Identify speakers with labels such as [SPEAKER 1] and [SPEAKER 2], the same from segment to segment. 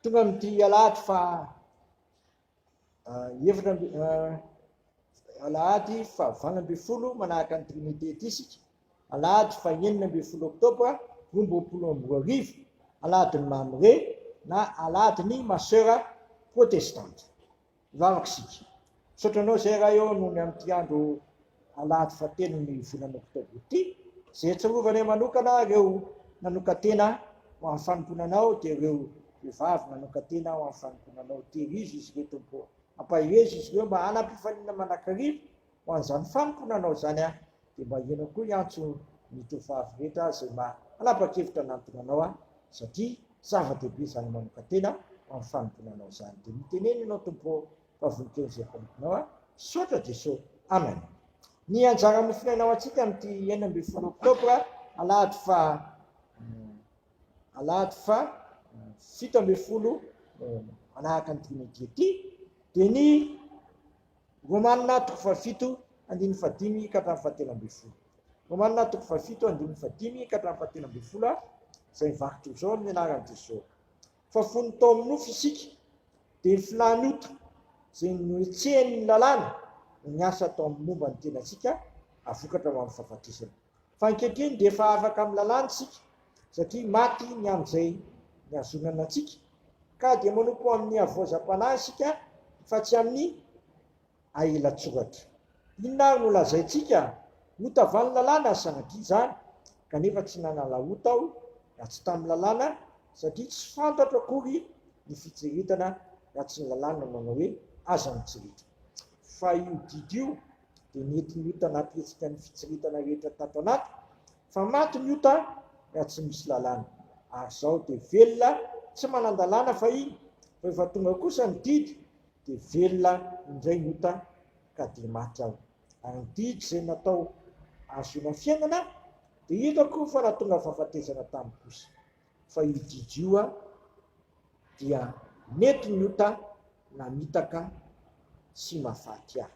[SPEAKER 1] Tonga amin'ity alahady fa ah, efatra amby ah, alahady fa valo ambin'ny folo manahaka ny Trinité ity isika. Alahady fa enina ambin'ny folo oktobra roa amby roapolo amby roa arivo, alahadin'ny Mamre na alahadin'ny Masera Protestanta. Vavaka isika. Misaotra anao izay Ray ô noho ny amin'ity andro alahady fahatelon'ny volana oktobra ity, izay iatsarovana manokana ireo nanokan-tena ho amin'ny fanompoana Anao dia ireo vehivavy nanokan-tena ho amin'ny fanompoana Anao. Tehirizo izy ireo Tompo ô. Ampaherezo izy ireo mba hanam-pifaliana mandrakariva. Ho an'izany faniko nanao izany aho, dia mba ianao koa hiantso ny tovovavy rehetra izay maha hanapa-kevitra hanantona anao aho, satria zava-dehibe izany manokan-tena ho amin'ny fanompoana anao izany. Dia mitenena ianao, Tompo ô, fa vonon-teny izay mpanomponao aho. Misaotra Jeso. Amen. Ny anjara nofonaina ho antsika amin'ity enina ambin'ny folo oktobra alahady faha alahady faha fito ambin'ny folo manahaka ny dimy ity dia ny Romanina toko fahafito, andininy fahadimy ka hatramin'ny fahatelo ambin'ny folo. Romanina toko fahafito, andininy fahadimy ka hatramin'ny fahatelo ambin'ny folo a Izay mivaky trozao amin'ny anaran'i Jeso. Fa fony tao amin'ny nofo isika, dia ny filàny ota izay nohetsehan'ny lalàna no niasa tao amin'ny momba ny tenantsika, hahavokatra ho amin'ny fahafatesana. Fa ankehitriny dia efa afaka amin'ny lalàna isika satria maty ny amin'izay nihazonana antsika, ka dia manompo amin'ny havoazam-panahy isika fa tsy amin'ny ahilan-tsoratra. Inona ary no lazaintsika? Ota va ny lalàna? Sanatria izany, kanefa tsy nanala ota aho raha tsy tamin'ny lalàna, satria tsy fantatro akory ny fitsiriritana raha tsy ny lalàna nanao hoe, Aza mitsiritra. Fa io didy io dia nety ny ota anaty hetsika ny fitsiritana rehetra tato anaty fa maty ny ota raha tsy misy lalàna ary izao dia velona tsy manan-dalàna fahiny fa efa tonga kosa ny didy dia velona indray ny ota ka dia maty aho ary ny didy izay natao ahazoana fiainana dia hitako fa nahatonga fahafatesana tamiko kosa fa io didy io a dia mety ny ota namitaka sy mafaty ahy.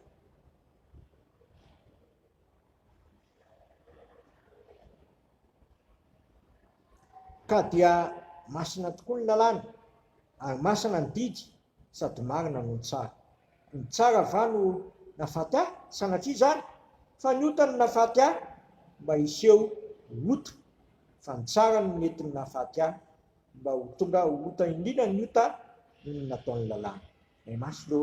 [SPEAKER 1] Ka dia masina tokoa ny lalàna ary masina ny didy Sady marina no tsara. Ny tsara va no nafaty ahy sanatria izany? Fa ny ota no nafaty ahy mba hiseho ho ota fa ny tsara no mety ny nafaty ahy mba ho tonga ho ota indrindra ny ota noho ny nataon'ny lalàna. May maso lo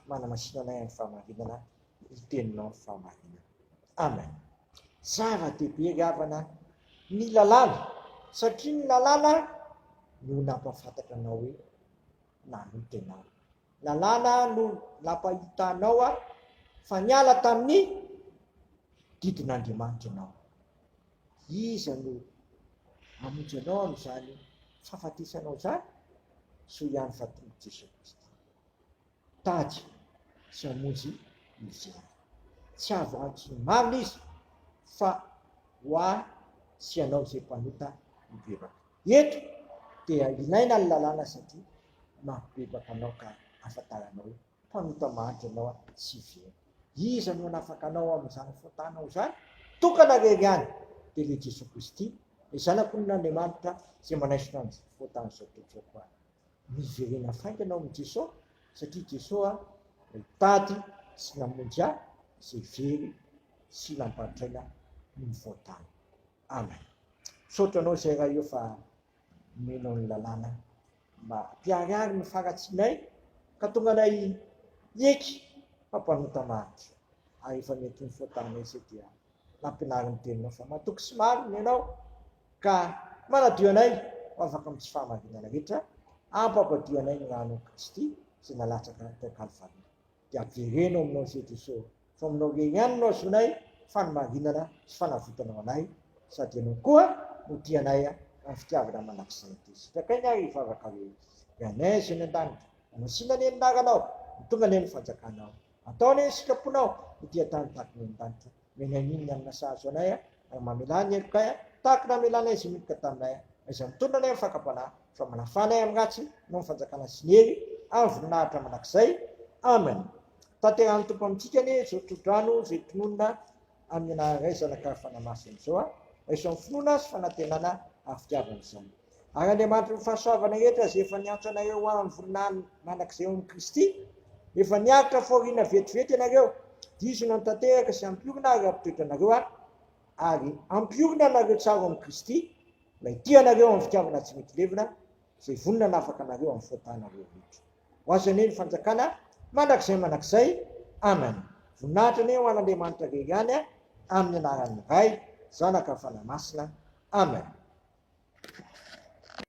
[SPEAKER 1] manamasina anay amin'ny fahamarinana ny teninao fahamarinana. Amen. Zava dehibe ry havana ny lalàna satria ny lalàna no nampafantatra anao hoe. nanotenao. Lalàna no nampahitanao ahy fa niala tamin'ny didin'Andriamanitra ianao. Iza no hamonjy anao amin'izany fahafatesanao izany? Soa ihany fa tonga Jesoa Kristy tady sy hamonjy izy ihany. Tsy azo antsony marina izy fa ho ahy sy ianao izay mpanota mibebaka. Eto dia ilaina ny lalàna satria mampibebaka anao ka ahafantarana hoe mpanota mahantra ianao a! tsy very. Iza no hanafaka anao amin'izany faotanao izany? Tokana rery ihany dia ilay Jesoa Kristy, ilay Zanak'olon'Andriamanitra izay manaisotra ny faotan'izao tontolo izao koa. Miverena faingana ao amin'i Jesoa satria Jesoa ilay tady sy namonjy ahy izay very sy nampantraina noho ny faotany. Amen misaotra anao zay raha io fa omenao ny lalàna mba hampiharihary ny faratsinay ka tonga anay hieky fa mpanota maritra ary efa mety ny faotanay zay dia nampinary ny teninao fa matoky sy marina ianao ka manadio anay ho afaka amin'ny tsy fahamarinana rehetra ampampadio anay ny ranon'i Kristy zay nalatsaka tao Kalvary dia jerena ao aminao Jesosy ô, fa aminao irery ihany no ahazoanay fanimarinana sy fanavotana ho anay, sady ianao koa no tia anay amin'ny fitiavana mandrakizay ity. Sitraka aina ary vavaka hoe, Ry Anay izay any an-danitra, mamasina anie ny anaranao, mitongana anie ny fanjakanao, atao anie ny sitraponao ho dia tany tahaky ny any an-danitra, Menaninona ny nasahazo anay a, raha mamelà ny helokay a, tahaka ny namelanay izay nihiboka taminay a, na izay mitondra anay amin'ny fakam-panahy, fa manafaha anay amin'ny ratsy, noho ny fanjakana sy ny hery, ary ny voninahitra mandrakizay. Amena. Tanterahin'ny Tompo amintsika anie izao tsodrano izay tononina amin'ny anaran'Ray, Zanaka, ary Fanahy Masina izao a. Raiso amin'ny finoana sy fanantenana ary fitiavana izany. Ary Andriamanitry ny fahasoavana rehetra, izay efa niantso anareo ho amin'ny voninahiny mandrakizay ao amin'i Kristy, efa niaritra fahoriana vetivety ianareo, dizona ny tanteraka sy ampiorina ary hampitoetra anareo ahy, ary ampiorina anareo tsara ao amin'i Kristy, mba hitia anareo amin'ny fitiavana tsy mety levona, izay vonona hanafaka anareo amin'ny fahotanareo rehetra. Ho azy anie ny fanjakana mandrakizay mandrakizay. Amen. Voninahitra anie ho an'Andriamanitra very any amin'ny anaran'ny Ray, Zanaka, Fanahy Masina. Amen.